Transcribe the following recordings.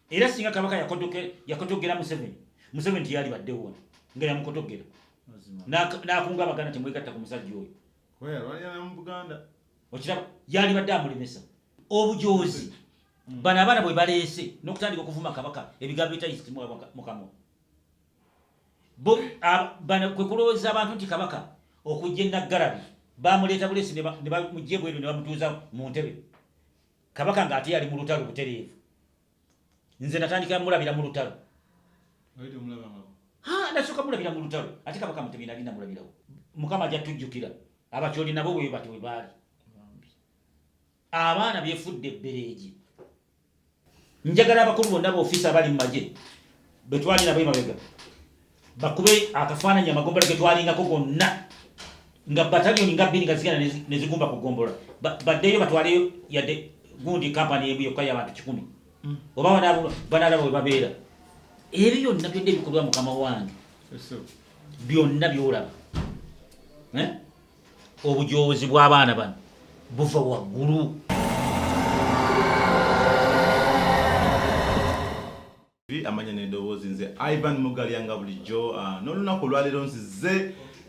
era singa kabaka yakotogera museveni museveni tiyali baddewo wano nga yamukotogera nakunga abaganda temwegatta ku musajja oyo okiraba yali badde amulemesa obujoozi mm. bano abaana bwe baleese n'okutandika okuvuma kabaka ebigambo bitayisimukamwa bano kwe kulowooza abantu nti kabaka okujja enaggalabi bamuleeta buleesi ne bamujja ebweru ne bamutuuza mu ntebe kabaka nga ate yali mu lutalo butereevu nze natandika mulabira mu lutalo nasooka mulabira mu lutalo ate kabaka mutebi nali namulabirawo mukama ajja tujjukira abakyoli nabo bwe bati we baali abaana byefudde ebbereegi njagala abakulu bonna baofiisi abali mu magye betwali nabo emabega bakube akafaananyi amagombolola ge twalingako gonna nga bataliyoni nga bbiri nga zigenda ne zigumba ku gombolola baddeyo batwaleyo yadde gundi kampani emu yokka y'abantu kikumi mm. oba banalaba we babeera ebyo byonna byonna ebikolwa mukama wange byonna byolaba eh? obujoozi bw'abaana bano buva waggulu Amanya n'endowoozi nze Ivan Mugalya nga bulijjo ah, n'olunaku olwaleero nzize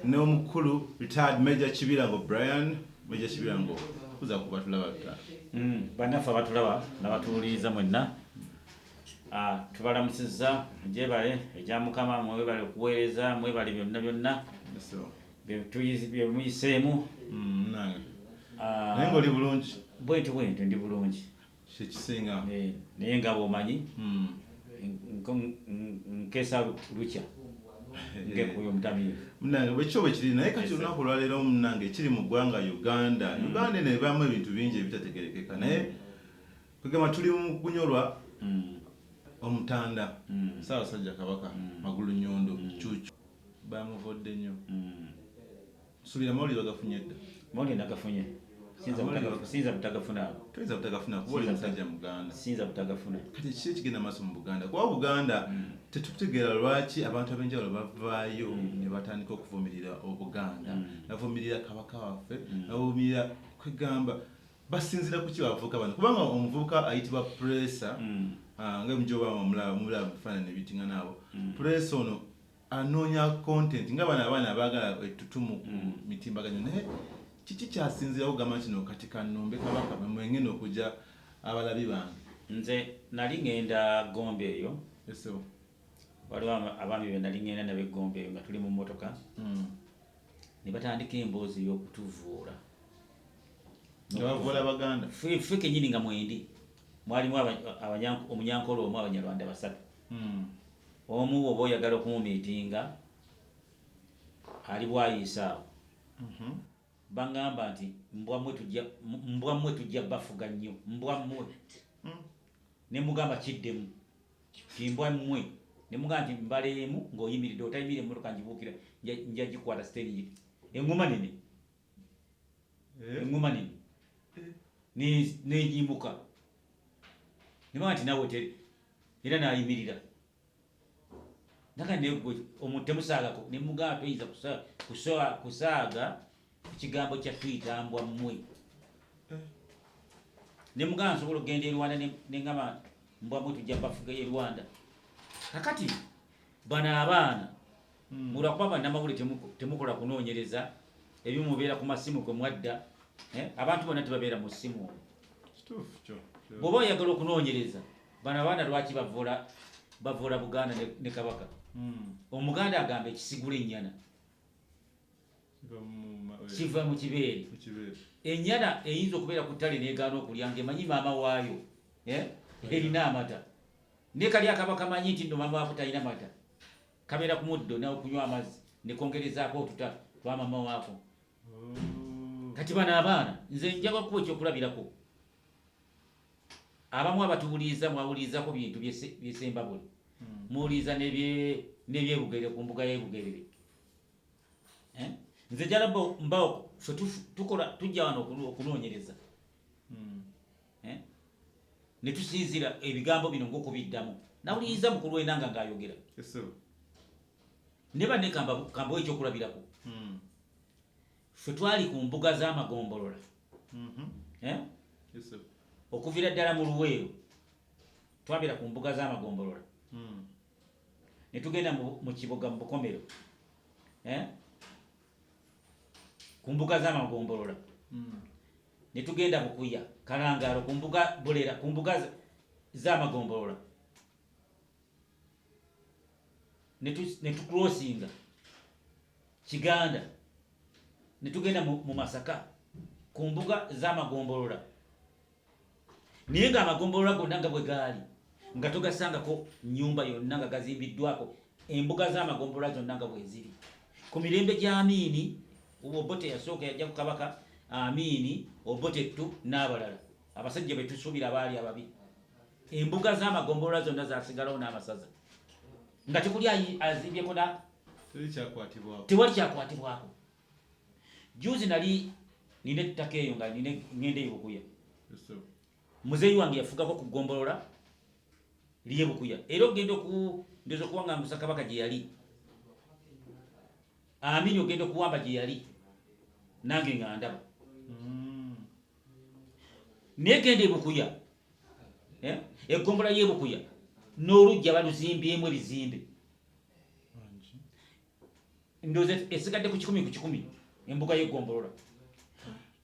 n'omukulu retired Major Kibirango Brian Major Kibirango kuza ku batulaba ta mm, bannaffe abatulaba n'abatuwuliriza mwenna ah, tubalamusizza gyebale egya Mukama mwebale okuweereza mwebale byonna byonna byemuyiseemu mm, ah, naye nga oli bulungi bwentyo bwentyo ndi bulungi kyekisinga eh, naye nga bwomanyi hmm. nkesa lukya ngekuyo mutamiivu munange bwekyo bwekiri naye kati olunaku olwaleero munange ekiri mu ggwanga uganda hmm. uganda eno ebamu ebintu bingi ebitategerekeka naye kwegamba tuli mu kunyolwa hmm. omutanda saabasajja kabaka magulu nyondo cucu bamuvodde nnyo Nsubira amawulire bagafunye dda. Amawulire nagafunye. Siyinza butagafuna ago. Toyinza butagafuna kuba oli musajja Muganda. Siyinza butagafuna. Kati kiki ekigenda maaso mu Buganda? Kuba Buganda mm. tetutegeera lwaki abantu ab'enjawulo bavaayo mm. ne batandika okuvumirira Obuganda, mm. navumirira Kabaka waffe, navumirira kwegamba basinzira kuki bavuka bano kubanga omuvubuka ayitibwa puresa ah, nga mujobamulaba mubiraba mu bifaananyi ebitingana abo puresa ono anoonya content nga bano abaana abaagala ettutumu ku mm. mitimbagano naye kiki kyasinzirawo gamba kino kati kanumbe kabaka mwengenda okugya abalabi bange nze nali ngenda gombe eyo waliwo abaami be nali ngenda nabo egombe eyo nga tuli mu mmotoka mm. ne batandika emboozi ey'okutuvuula ffe kenyini nga mwendi mwalimu omunyankolo omu abanyarwanda basatu Hmm. Omu bwoba oyagala okumumiitinga ali bwayiisa awo. Mhm. Bangamba nti mbwa mwe tujja bafuga nnyo mbwa mwe. Hmm. Ne mugamba kiddemu timbwa mwe ne mugamba nti mbaleemu ng'oyimiridde otayimiridde emmotoka ngibuukira nja gikwata siteringi engoma nene eh? engoma nene eh? negimuka neba nti nawe te era nayimirira naga negwe omuntu temusaagako ne mugaa toyinza kusaaga ekigambo kya tuyitambwa mmwe ne mugaa nsobola okugenda erwanda nengamba mbwamwe tujja bafuga ye rwanda kakati bano abaana hmm. olwakuba banamawuli temukola kunonyereza ebimu mubeera ku masimu gwe mwadda eh? abantu bona tebabeera mu simu bwoba oyagala okunonyereza bano abaana lwaki bavula bavula buganda ne kabaka hmm. omuganda agamba ekisigula enyana kiva mu kibeere enyana eyinza okubeera ku ttale negaana okulya ngaemanyi maama waayo eh? erina amata ne kali akaba kamanyi nti no mama wakutalina mata kamera ku muddo nawe kunywa amazzi nekongerezaako otuta twamama waako mm. kati bano abaana nze njaga kuba ekyokulabirako abamu abatuwuliriza mwawulirizako bintu byesembabule mm. muwuliriza nebyebugerere ku mbuga yebugerere eh? nze jalaba mbawo fe tukola tujja wano okunoonyereza mm. eh? ne tusinzira ebigambo bino ng'okubiddamu nawuliriza mukulu w'enanga ng'ayogera ne banne kambawo ekyokulabirako hmm. ffe twali ku mbuga z'amagombolola mm-hmm. eh? okuvira ddala mu luweero twabeera ku mbuga z'amagombolola hmm. ne tugenda mu kibuga mu bukomero eh? ku mbuga z'amagombolola hmm. ne tugenda bukuya kalangaalo ku mbuga bulera ku mbuga z'amagombolola ne tukulosinga kiganda ne tugenda mu masaka ku mbuga z'amagombolola naye nga amagombolola gonna nga bwe gaali nga togasangako nyumba yonna nga gazimbiddwako embuga z'amagombolola zonna nga bweziri ku mirembe gya amiini obote yasooka yajja ku kabaka amiini obote ttu n'abalala abasajja betusuubira baali ababi embuga z'amagombolola zonna zasigalawo n'amasaza nga tekuli azimbyeko tewali kyakwatibwako juzi nali nina ettaka eyo nga nina ngenda eyo bukuya muzeeyi wange yafugako ku ggombolola liye bukuya era ogenda oku ndoza okuba nga musa kabaka gye yali amini ogenda okuwamba gye yali nange nga ndaba mm. naye genda ebukuya eh? eggombolola y'ebukuya n'olujja baluzimbyemu ebizimbe ndoze esigadde ku kikumi ku kikumi embuga y'eggombolola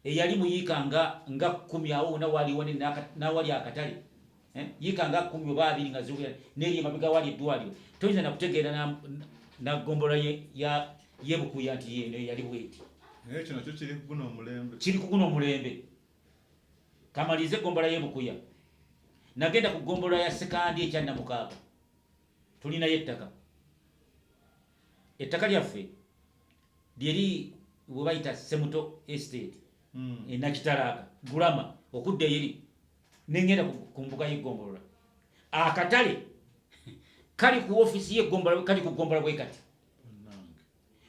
eyali muyiika nga nga kumi awo wona waliwo nawali akatale eh? yiika nga kumi oba abiri nga ziwera neeri emabega wali eddwaliro toyinza nakutegeera na ggombolola yebukuya nti yeno eyali bweti naye kino kyo kiri kuguna omulembe kiri kuguna omulembe kamalize gombola yebukuya nagenda ku gombola ya sekandi ekya namukaaga tulinayo ettaka ettaka lyaffe lyeri bwe bayita semuto estate hmm. enakitalaaka gulama okudda eyeri nengenda ku mbuga y'eggombolola akatale kali ku ofiisi y'eggombolola kali ku ggombolola bwe kati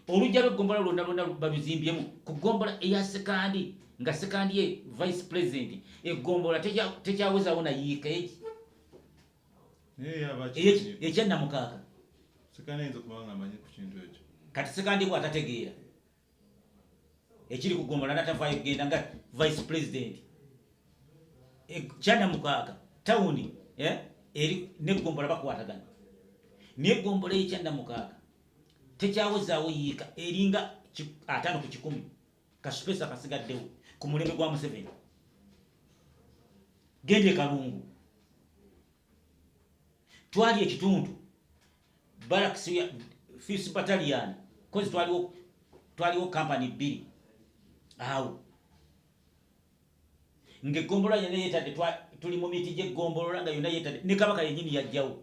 olujja lw'eggombolola lwonna lwonna baluzimbyemu ku ggombolola eya sekandi nga sekandi ye vice president eggombolola tekyawezaawo na yiika egi ekya namukaaga kati sekandibwa atategeera ekiri kugomola natavaayo kugenda nga vice president ekyanamukaaga tawuni eh, eri negombola bakwatagana naye gombola ekyanamukaaga tekyawozaawo yiika eringa ataano ku kikumi kasupesa kasigaddewo ku mulembe gwa museveni genda ekalungu twali ekitundu baraks fis batalian kozi twaliwo twaliwo kampani bbiri awo ngaeggombolola yona yetadde tuli mu miti gyeggombolola nga yona yetadde ne kabaka yenyini yajjawo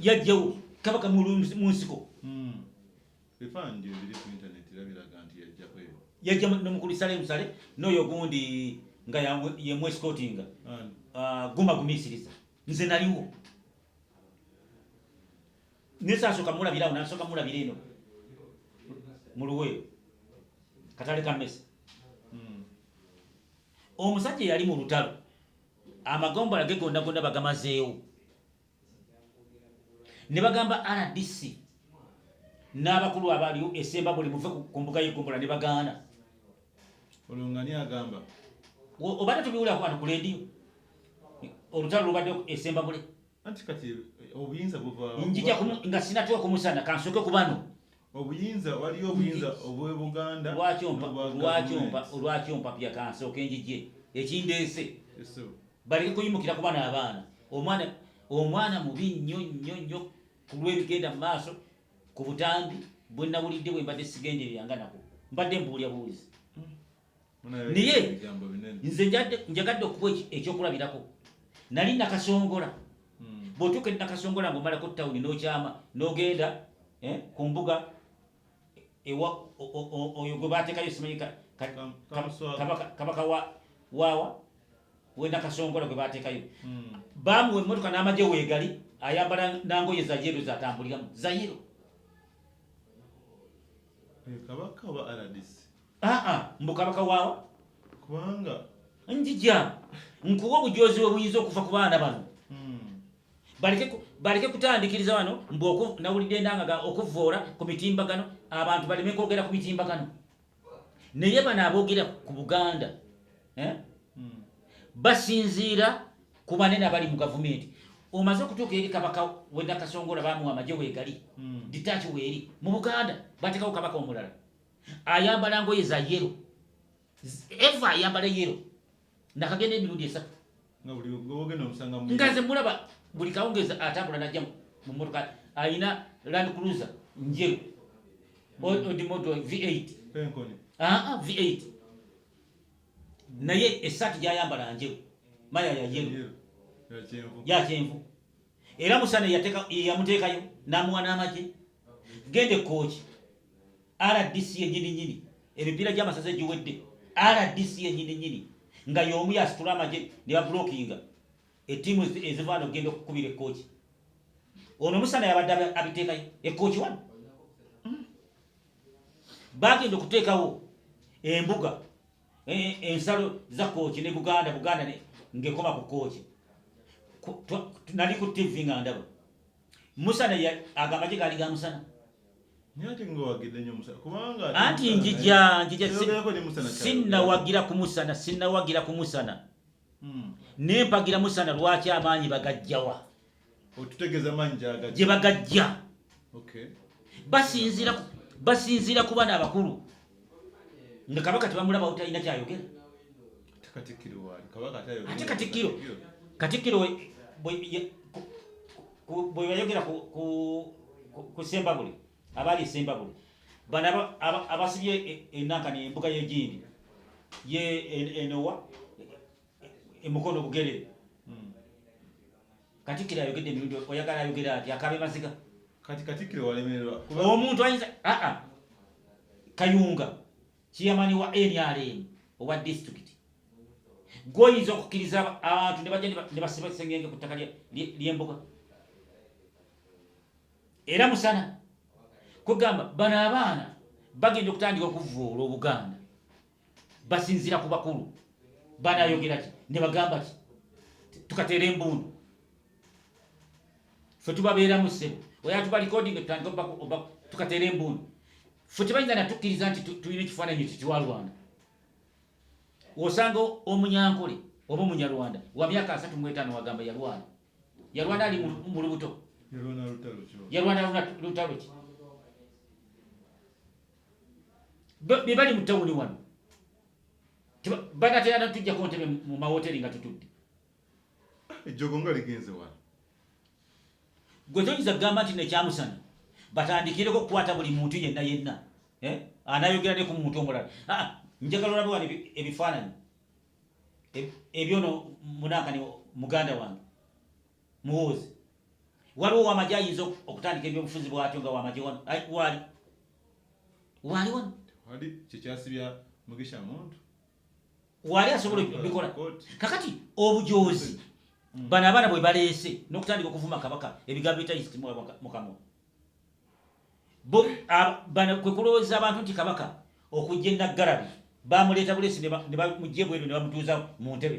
yajjawo kabaka mu nsiko hmm. yajja nomukulu sale musale noyo gundi nga yemwesikotinga ah, guma gumisiriza nze naliwo nesasoka mulabirawo nasoka mulabira eno muluweyo katale kamesa hmm. omusajja yali mu lutalo amagombola ge gonda gonda bagamazeewo ne bagamba rdc n'abakulu abaliwo esemba buli muve ku mbuga y'egombola ne bagaana olwo nga ni agamba obadde tubiwulira ku bantu ku leediyo olutalo lubadde esemba bule anti kati obuyinza buva njija nga sinatuwa kumusana kansooke ku bano obuyinza waliyo obuyinza obwebuganda lwaki ompapya kansooka enjije ekindeese bali kuyimukira kuba naabaana omwana omwana mubi nnyo nnyo nnyo ku lwebigenda mu maaso ku butambi bwenawulidde bwe mbadde sigenderera nga nako mbadde mbuulya buuzi naye nze njagadde okuba ekyokulabirako nali nakasongola hmm. bwotuuka eri nakasongola nga omalako tawuni nokyama nogenda eh, ku mbuga ewa oyo gwe batekayo simanyi kabaka wawa wenakasongola gwe batekayo hmm. bamuwa emotoka n'amaje wegali ayambala nangoye zayero zatambuliramu zayero eh, kabaka wa rdc aa mbu kabaka waawa kubanga njija nkuwa obujoozi bwe buyinza okuva ku baana bano hmm. baleke kutandikiriza wano mbu nawulidde endangaga okuvvoola ku mitimbagano abantu baleme kwogera ku mitimbagano naye bano aboogera ku buganda eh? hmm. basinziira ku banene abali mu gavumenti omaze okutuuka eri kabaka wenakasongola bamuwa amagye wegali hmm. ditaaki weeri mu buganda batekawo kabaka omulala ayambala ngoye za yero eva ayambala yero nakagenda emirundi esatu nga nze mulaba buli kawungezi atambula najja mu motoka alina land cruiser njeru hmm. odimoto v8 v8 naye esaati gyayambala njeru maya ya yero ya kyenvu era musana yamuteekayo namuwa n'amagye genda ekkooki rdc yenyini nyini emipiira gy'amasaza egiwedde rdc yenyini nyini nga y'omu yasitula amagye ne babulookinga ettiimu ezivaana okugenda okukubira ekkooki ono musana yabadde abiteekayo ekkooki wano bagenda okuteekawo embuga Eh, ensalo za kooki ne buganda buganda ngekoma ku kooki nali ku tv nga ndaba musana agamba gye gaali ga musana anti njija njija sinnawagira ku musana sinnawagira ku musana hmm. nempagira musana lwaki amaanyi bagajjawa gye bagajja basinziira ku bana abakulu nga kabaka tebamulabawo talina kyayogera ate katikkiro katikkiro bwe yayogera ku sembabule abaali esembabule bano abasibye e, e, enankani embuga yegindi ye e, enowa emukono e bugere hmm. katikiro ayogedde emirundi oyagala ayogere ati akabe maziga kati katikiro walemererwa omuntu ayinza aa kayunga kiyamani wa nrm owa disitulikiti gwoyinza okukkiriza abantu nebajja nebasiba kisengenge ku ttaka lyembuga era musana kugamba bano abaana bagenda okutandika okuvuula obuganda basinzira ku bakulu banayogera ki ne bagamba ki tukateera embundu fe tubabeera mu ssebo oyo atuba recording tutandika oba tukateera embundu fe tebayinza natukkiriza nti tulina ekifaananyi ekyo kiwa rwanda osanga omunyankole oba omunyarwanda wa myaka asatu mu etaano wagamba yalwana yalwana ali mu lubuto yalwana lutalo ki be bali mu tawuni wano banatera natujjako ntebe mu mawoteri nga tutudde ejjogo nga ligenze wano gwe toyinza kugamba nti nekyamusana batandikireko okukwata buli muntu yenna yenna eh? anayogera ne ku muntu omulala ah, ah, njagala olabe wano ebifaananyi ebyono munankani muganda wange muwoozi waliwo wamagye ayinza okutandika ebyobufuzi bwatyo nga wamagye wano waali waali wano wali kyekyasibya mugisha muntu waali asobola bikola kakati obujoozi hmm. bano abaana bwe baleese n'okutandika okuvuma kabaka ebigambo bitayisiti mukamwa bano kwe kulowooza abantu nti kabaka okujja enaggalabi bamuleeta buleesi ne bamugye bweru ne bamutuuza mu ntebe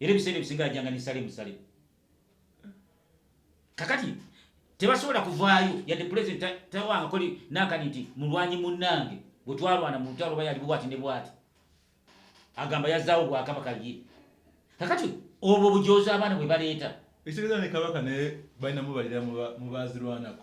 era ebiseera ebisinga yajjanga nisale musale kakati tebasobola kuvaayo yadde pulezidenti tawangako nakani nti mulwanyi munnange bwe twalwana mu lutalo oba yali bwati ne bwati agamba yazaawo bwakabaka ye kakati obwo bujoozi abaana bwe baleeta ekitegeeza ne kabaka naye balinamu balira mu bazirwanako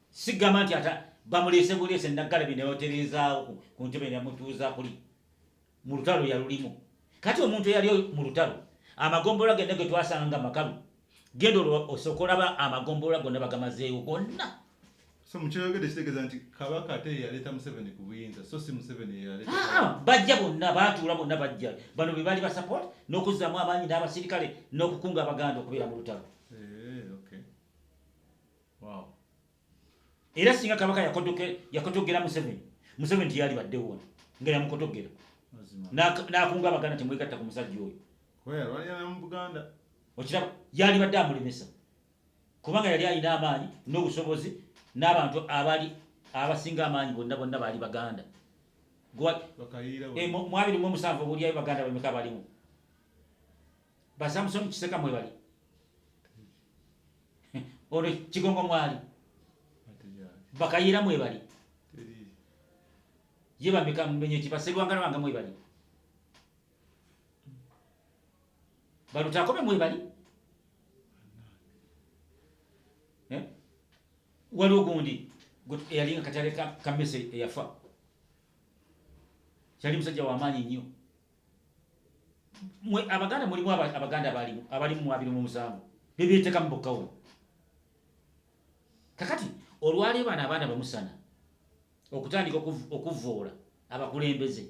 sigamba nti ata bamuleese buleese naggalabi nebatereezaawo ku ntebe nemutuuza kuli mu lutalo yalulimu kati omuntu eyali mu lutalo amagombolola genda ge twasanga nga makalu genda olwo osooka olaba amagombolola gonna bagamazeewo gonna so mukyoyogedde kitegeeza nti kabaka ate yaleeta museveni ku buyinza so si museveni yeyaleeta ah, ah, bajja bonna baatuula bonna bajja bano be baali basupport n'okuzzamu amaanyi n'abasirikale n'okukunga abaganda okubeera mu lutalo era singa kabaka yakotogera museveni museveni tiyali baddewo wano nga yamukotogera nakunga abaganda temwegatta ku musajja oyo okiraba yali badde amulemesa kubanga yali alina amaanyi n'obusobozi n'abantu abali abasinga amaanyi bonna bonna baali baganda eh, mwabiri mu omusanvu obulyayo baganda bameka balimu ba Samson Kiseka mwebali ono Kigongo mwali bakayira mwebali ye bameka mbenye kibaserwanga nabanga mwebali balutakobe mwebali eh? waliwo gundi eyalinga katale kamese eyafa kyali musajja wamaanyi nnyo mwe abaganda mulimu abaganda abalimu abalimu mwabiri mu musango bebyeteka mu bokka wano kakati olwaleero bano abaana bamusana okutandika okuvvoola abakulembeze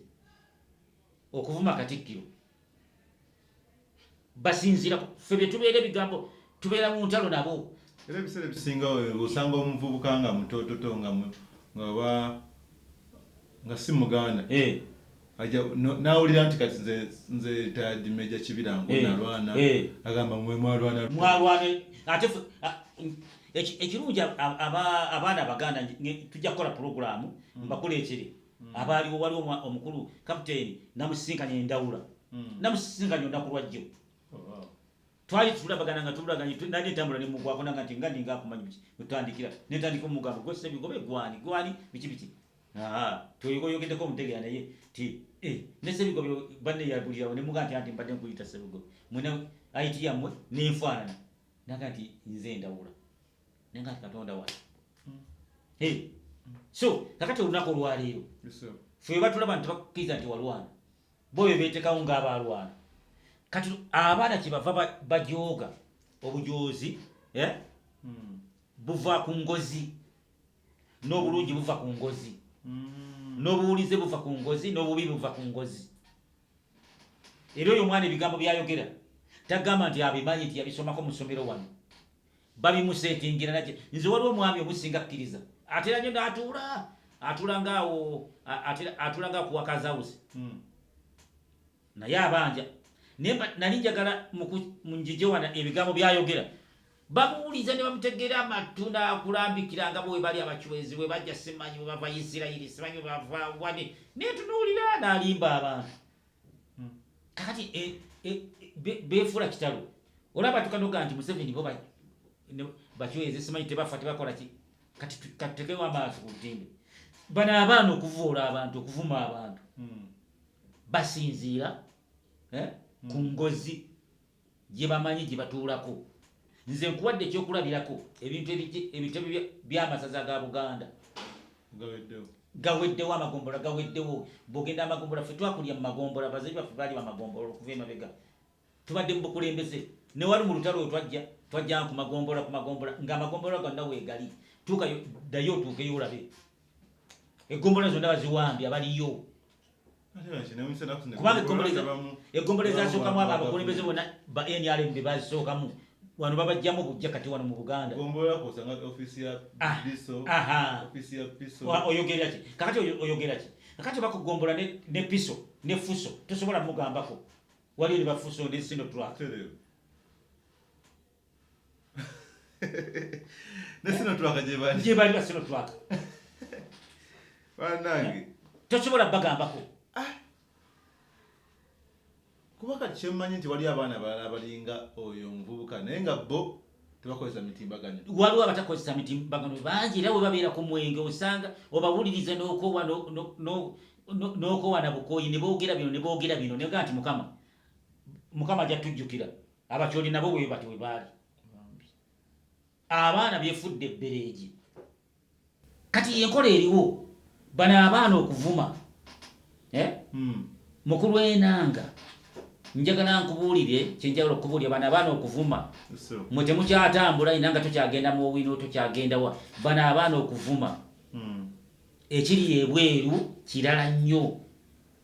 okuvuma katikkiro basinzira ffe betubeera ebigambo tubeera mu ntalo nabo era ebiseera ebisinga osanga omuvubuka nga mutototo nga ngaba nga si muganda eh. aja nawulira nti kati nze nze tadi meja kibira ngo eh. nalwana eh. agamba mwe mwalwana mwalwana ate ekirungi abaana abaganda tujja kukola pulogulaamu mbakuleetere mm. mm. abaaliwo waliwo omukulu kapiteeni namusisinkanya endawula mm. namusisinkanya olunaku lwajjo oh, twali tulabagana nga tulaganye nali ntambula nemugwako nanga nti nga ninga akumanyi biki wetandikira netandika omugambo gwesebigobe gwani gwani biki biki toyogoyogedeko omutegera naye ti eh, nesebigobe banne yabulirawo nemuga nti anti mbadde nkuyita sebigobe mwena ayiti yammwe nenfaanana naga nti nze ndawula naye nga katonda wali mm. hey. Mm. so kakati olunaku olwaleero fe webatulaba nti tebakkiriza nti walwana bo bebetekawo ngaabalwana kati abaana kyebava bajooga obujoozi eh? mm. buva ku ngozi n'obulungi buva ku ngozi n'obuwulize buva ku ngozi n'obubi buva ku ngozi era oyo omwana ebigambo byayogera tagamba nti abimanyi nti yabisomako musomero wano babimusetingira naki nze waliwo omwami omusinga kkiriza atera nyo natuula atulanga awo atulanga ku wakazawuzi hmm. naye abanja naye nali njagala munjijewana ebigambo byayogera bamuwuliza ne bamutegera amatu nakulambikira nga bwe bali abacwezi bwe bajja simanyi bwebava isirairi simanyi bwebava wani naye tunuulira nalimba abantu hmm. kakati e, e, e, befuula kitalo olaba tukanoga nti museveni bo bakiweze simanyi tebafa tebakola ki kati tutekewo amaaso ku ntimbe bano abaana okuvuula abantu okuvuma abantu hmm. basinziira eh, hmm. ku ngozi gye bamanyi gye batuulako nze nkuwadde ekyokulabirako ebintu ebitebe by'amasaza ga buganda gaweddewo amagombola gaweddewo bwogenda amagombola fe twakulya mu magombola bazabi baffe baali bamagombola okuva emabega tubadde mu bukulembeze newali mu lutalo we twajja twajjanga ku magombola ku magombola ng'amagombola gonna weegali tuukayo ddayo otuukeyo olabe egombola zonna baziwambye abaliyo kubanga egombolola ezasookamu abo abakulembeze bona ba nrm be bazisookamu wano babajjamu bujja kati wano mu buganda ah, oyogeraki kakati oyogeraki kakati bakugombola ne piso ne fuso tosobola mugambako waliyo ne bafuso ne sinotrak ne sino twaka gye bali gye bali sino twaka banange eh? tosobola bagambako ah. kuba kati kyemmanyi nti waliyo abaana balala abalinga oyo omuvubuka naye nga bo tebakozesa mitimbagano waliwo abatakozesa mitimbagano bangi era webabeera ku mwenge osanga obawuliriza nokowa nokowa nabukoyi nebogera bino nebogera bino nega nti mukama mukama ajja tujjukira abakyoli nabo bwe bati bwe baali abaana byefudde ebbereegi kati yenkola eriwo bano abaana okuvuma eh? hmm. mukulu enanga njagala nkubuulire kyenjagala okubuulira bano abaana okuvuma mwe temukyatambula ina nga tokyagenda mu owino tokyagendawa bano abaana okuvuma hmm. ekiri ebweru kirala nnyo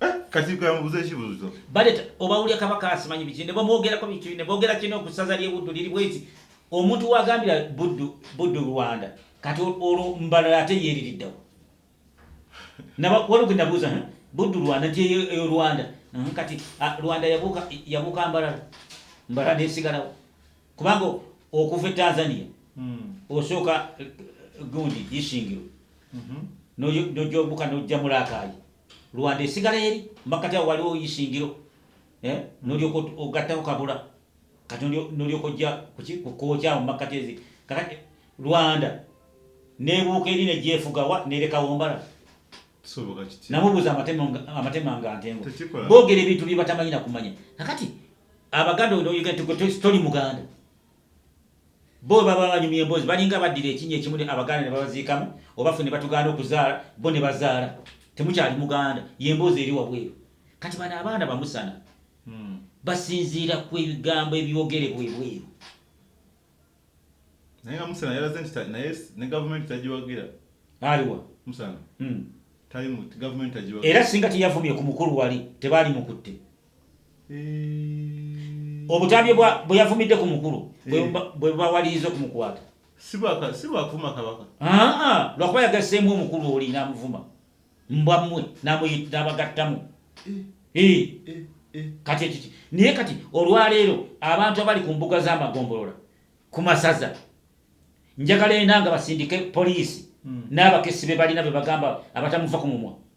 Eh, kati kambuze ekibuzo baleta obawulya kabaka asimanyi biki ne bamwogerako biki ne boogera kino okusaza lyebuddu liri bweti omuntu wagambira buddu buddu rwanda kati olwo mbalala ate yeeririddawo waliwo genabuuza buddu rwanda nti eyo rwanda kati rwanda yabuuka mbalala mbalala nesigalawo kubanga okuva e tanzania hmm. osooka gundi isingiro mhm. nojombuka nojja mulakayi lwanda esigala eri makkati awo waliwo isingiro eh? nolyoka ogattako kabula kati nolyoka ojja kukokyawo mumakkati ezi kakati lwanda nebuuka eri nejefugawa nerekawombala namubuuza amatema nga ntengo bogera ebintu byebatamanyina kumanya kakati abaganda oyogera toli muganda Bo bwe baba banyumya emboozi balinga abaddira ekinnya ekimu ne abagaana ne babaziikamu oba ffe ne batugaana okuzaala bo ne bazaala. Temukyali Muganda. Ye mboozi eri wabweru. Kati bano abaana bamusana basinziira ku ebigambo ebyogerebwa ebweru. Naye nga Musana yalaze nti ta- naye s- ne gavumenti tagiwagira Aliwa? Musana Mm. tali mu gavumenti tagiwagira Era singa teyavumye ku mukulu wali tebaalimukutte. obutambi bwe yavumidde ku mukulu bwe bawaliriza okumukwata sibwakuvuma kabaka lwakuba yagasseemu omukulu oli namuvuma mbwa mmwe nabagattamu kati ekiki naye kati olwaleero abantu abali ku mbuga z'amagombolola ku masaza njagala enda nga basindike poliisi hmm. n'abakesi be balina be bagamba abatamuva ku mumwa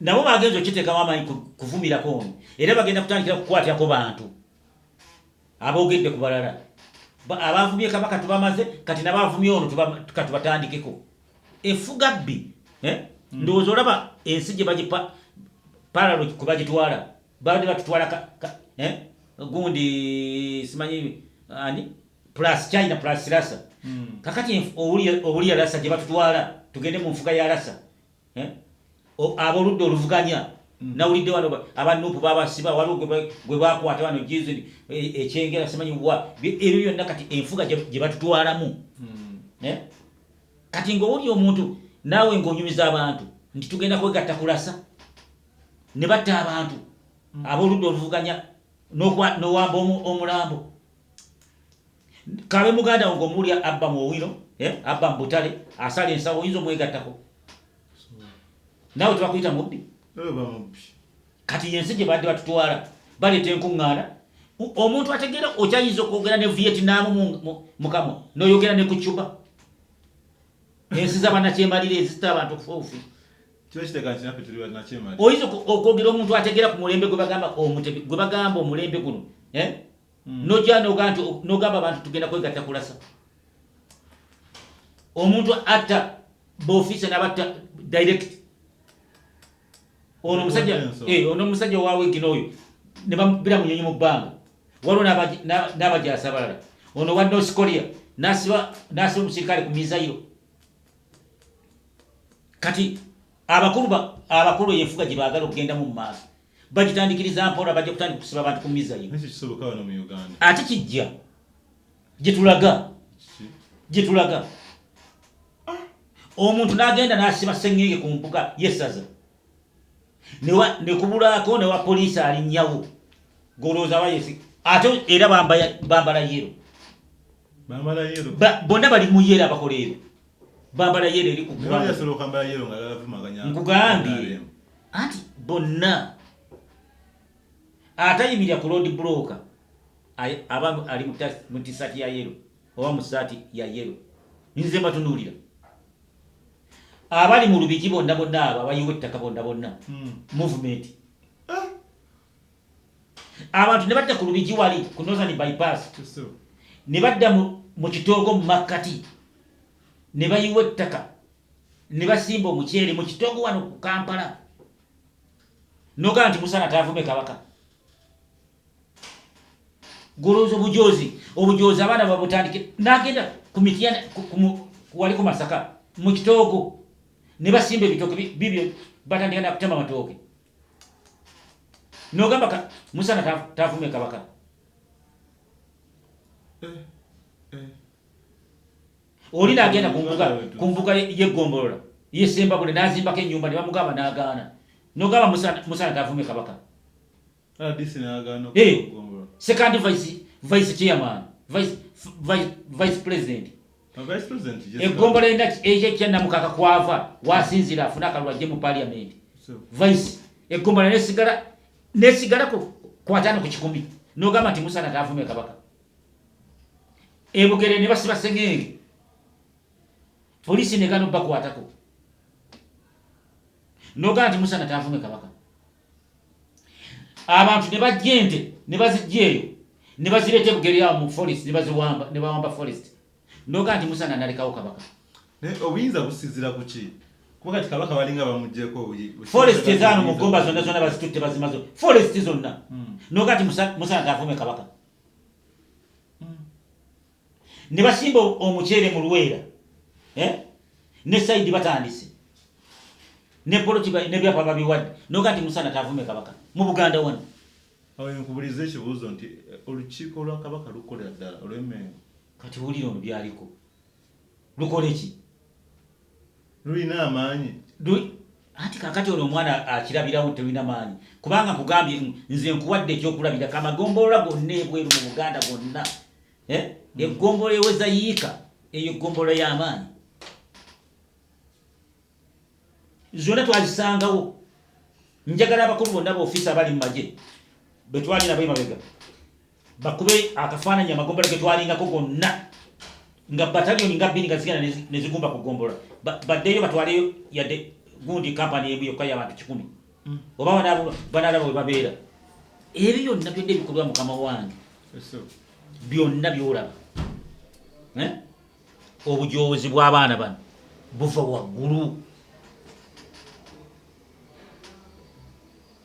nabo bagenza okiteekamu amaanyi kuvumirako ono era bagenda kutandikira kukwatyako bantu aboogedde ku balala abavumye kabaka tubamaze kati nabavumye ono katubatandikeko efuga bbi eh? hmm. ndowooza olaba ensi gye bagipa paralo kwe bagitwala babadde batutwala eh? gundi simanyi ani plus china plus rasa hmm. kakati owulya rasa gye batutwala tugende mu nfuga ya rasa eh? aboludda oluvuganya mm. nawulidde wano aba nupu babasiba waliwo gwe bakwata wano jizini e, ekyengera simanyi wa ebyo byonna kati enfuga gye batutwalamu mm. eh? kati ngaowuli omuntu naawe ngaonyumiza abantu nti tugenda kwegatta kulasa ne batta abantu mm. aboludda oluvuganya nowamba omulambo kabe muganda wo ng'omuwulira abba mu owino eh, abba mu butale asala ensawo oyinza omwegattako naawe tebakuyita mubbi kati yensi gye badde batutwala baleeta enkuŋŋaana omuntu ategeera okyayinza okwogera ne vietnaamu mukamwa noyogera ne ku cuba ensi zabanakyemalira ezita abantu okufa obufi oyinza okwogera omuntu ategeera ku mulembe gwebagamba omutebi gwebagamba omulembe guno eh? hmm. nojja nogamba abantu tugenda kwegatta kulasa omuntu atta bofiisa nabatta direct ono omusajja eh, ono omusajja owawegina oyo nebabira munyonyi mu bbanga waliwo n'abajaasi abalala ono wa north korea nasiba omusirikale ku mizayiro kati abakulu abakulu eyo enfuga gye baagala okugenda mu maaso bagitandikiriza mpola bajja kutandika kusiba abantu ku mizayi ate kijja gyetulaga gyetulaga ah. omuntu nagenda nasiba sengenge ku mpuga yesaza nekubulako newa poliisi alinyawo golowooza bayesi ate era bambala yero bonna bali muyero abakola ebyo bambala yero eri ku nkugambye anti bonna atayimirira ku road broker aba ali mu tisaati ya yero oba mu saati ya yero nze mbatunuulira abali mu lubigi bonna bonna abo abayiwa ettaka bonna bonna hmm. movement abantu ne badda ku lubigi wali ku northern bypass ne badda mu kitoogo mu makkati ne bayiwa ettaka ne basimba omuceere mu kitoogo wano ku kampala nogaa nti musana taavume kabaka golowooza obujoozi obujoozi abaana babutandike nagenda ku mitiyana wali ku masaka mu kitoogo ne basimba ebitooke bibyo batandika nakutema matooke nogamba ka musana tavume kabaka eh, eh. oli nagenda kumbuga yegombolola yesembabule nazimbako enyumba nebamugamba nagaana nogamba musana tavume kabaka ah, eh, sekandi vice chairman vice president eggombolola endaki eyekya namukaka kwava wasinzira afune akalulu ajje mu paliamenti vice eggombolola nesigala nesigala kwatano ku kikumi nogamba nti musana taavume kabaka ebugere ne basiba sengenge poliisi negana obbakwatako nogamba nti musana taavume kabaka abantu ne bajja ente ne bazijja eyo ne bazireeta ebugeri awo mu forest ne baziwamba ne bawamba forest noga nti musana nalekawo kabaka naye obuyinza businzira ku ki kuba kati kabaka balinga bamugyeko forest ezaano mu gomba zonna zonna bazitutte bazimazo forest zonna hmm. noga nti musana tavume kabaka ne basimba omuceere mu luweera eh? ne saidi batandise ne poloti nebyapa babiwadde noga nti musana tavume kabaka mu buganda wano awo nkubuliza ekibuuzo nti eh, olukiiko lwa kabaka lukolera ddala olwemengo kati wulira ono byaliko lukoleki lulina amaanyi anti kakati ono omwana akirabirawo nti terulina maanyi kubanga nkugambye nze nkuwadde ekyokulabira kamagombolola gonna ebweru mu buganda gonna eh? mm. egombolola eweza yiika eyo egombolola y'amaanyi zonna twazisangawo njagala abakulu bonna baofiisi abali mu magye betwali nabo emabega bakube akafaananyi amagombolola ge twalingako gonna nga bataliyoni nga bbiri nga zigenda ne zigumba ku ggombolola baddeyo batwaleyo yadde gundi kampani emu yokka y'abantu kikumi hmm. oba banalaba we babeera ebyo byonna byonna ebikolwa mukama wange byonna byolaba eh? obujoozi bw'abaana bano buva waggulu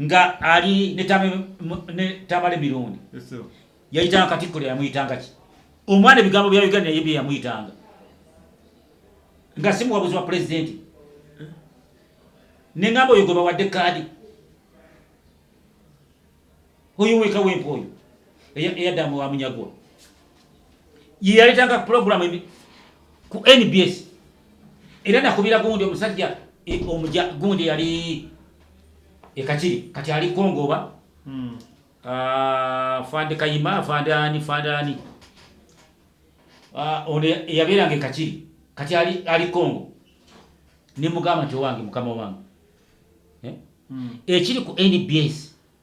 nga ali ne tamale mirundi yayitanga katikkiro yamuyitanga ki omwana ebigambo bya uganda naye byeyamuyitanga nga si muwabuzi wa pulezidenti eh? nengamba oyo gwe bawadde kaadi Oyo weka wempa oyo eyadda mu wamunyagwa ye yaleetanga pulogulaamu ku nbs era nakubira gundi omusajja e, omuja gundi yali ekakiri kati ali kongoba hmm. ah, fande kayima fande ani fande ani ah, ono eyabeeranga ekakiri kati ali kongo nemugamba nti owange mukama wange eh? hmm. ekiri ku nbs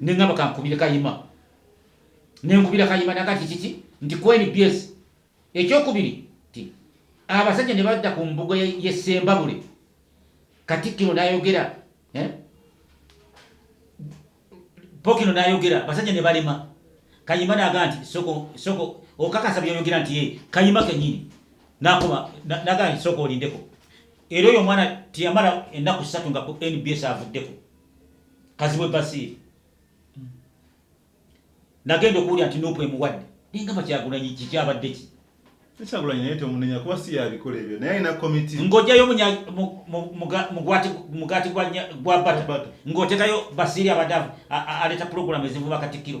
ne ngamba kankubire kayima ne nkubira kayima naga nti kiki nti kweni byesi ekyokubiri nti abasajja ne badda ku mbuga ye sembabule katikkiro nayogera eh? pokino nayogera basajja ne balema kayima naga nti soko soko okakasa byoyogera nti ye kayima kenyini nakuba naga nti soko olindeko era oyo omwana tiyamala ennaku ssatu nga ku nbs avuddeko kazibwe basiiri hmm. nagenda okuwulira nti nupu emuwadde nengamba kyagulanyi kikyabadde ki ekyagulanyi naye tomunenya kuba si yabikola ebyo naye alina komiti ng'ojayo mugaati gwa bata ng'otekayo basiiri abadde aleeta pulogulamu ezivuba katikkiro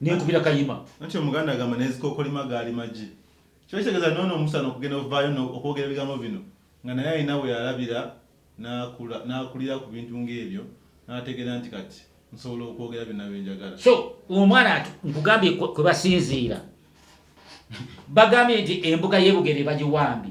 nenkubira kayima anti omuganda agamba nezikokolima gaali magi kiba kitegeza nono musana okugenda ovayo no okwogera ebigambo bino nga naye alina weyalabira nakula nakulira kubintu nga ebyo nategera nti kati nsobola okwogera byona byenjagala so omwana ati nkugambye kwebasinziira bagambye nti embuga yebugere bagiwambi